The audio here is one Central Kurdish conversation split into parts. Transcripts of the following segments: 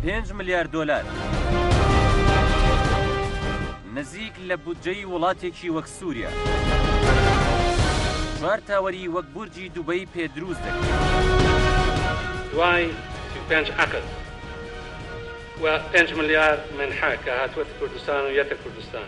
پێنج ملیار دۆلار نزیک لە بودجەی وڵاتێکی وەک سووریا چوار تاوەری وەک بورجی دوبەی پێ دروست دەکرێت دوای سی و پێنج عەقد و پێنج ملیار منحە کە هاتووەتە کوردستان و یەتە کوردستان.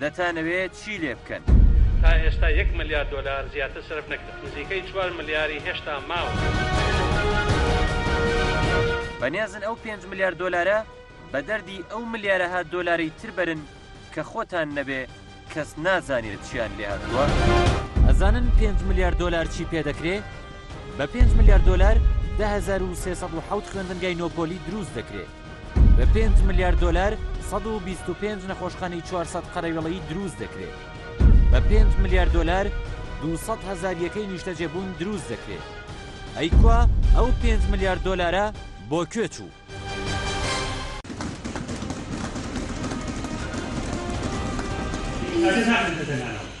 دەتانەوێ چی لێ بکەن؟ تا ئێستا یەک ملیار دۆلار زیاتر سەرف نەکرا، نزیکەی چوار ملیاری هێشتا ماون. بەنیازن ئەو پێنج ملیار دۆلارە بە دەردی ئەو ملیارەها دۆلارەی تر بەرن کە خۆتان نەبێ کەس نازانێ چیان لێ هاتووە؟ ئەزانن پێنج ملیار دۆلار چی پێ دەکرێ؟ بە پێنج ملیار دۆلار دە هەزار و سێ سەد و حەوت خوێندنگای نۆ پۆلی دروست دەکرێ. بە پێنج ملیار دۆلار سەد و بیست و پێنج نەخۆشخانەی چوار سەد قەرەوێڵەیی دروست دەکرێت. بە پێنج ملیار دۆلار دوو سەد هەزار یەکەی نیشتەجێبوون دروست دەکرێت. ئەی کوا ئەو پێنج ملیار دۆلارە بۆ کوێ چوو؟ ئەزێت ناکەن کە تەنانەوە.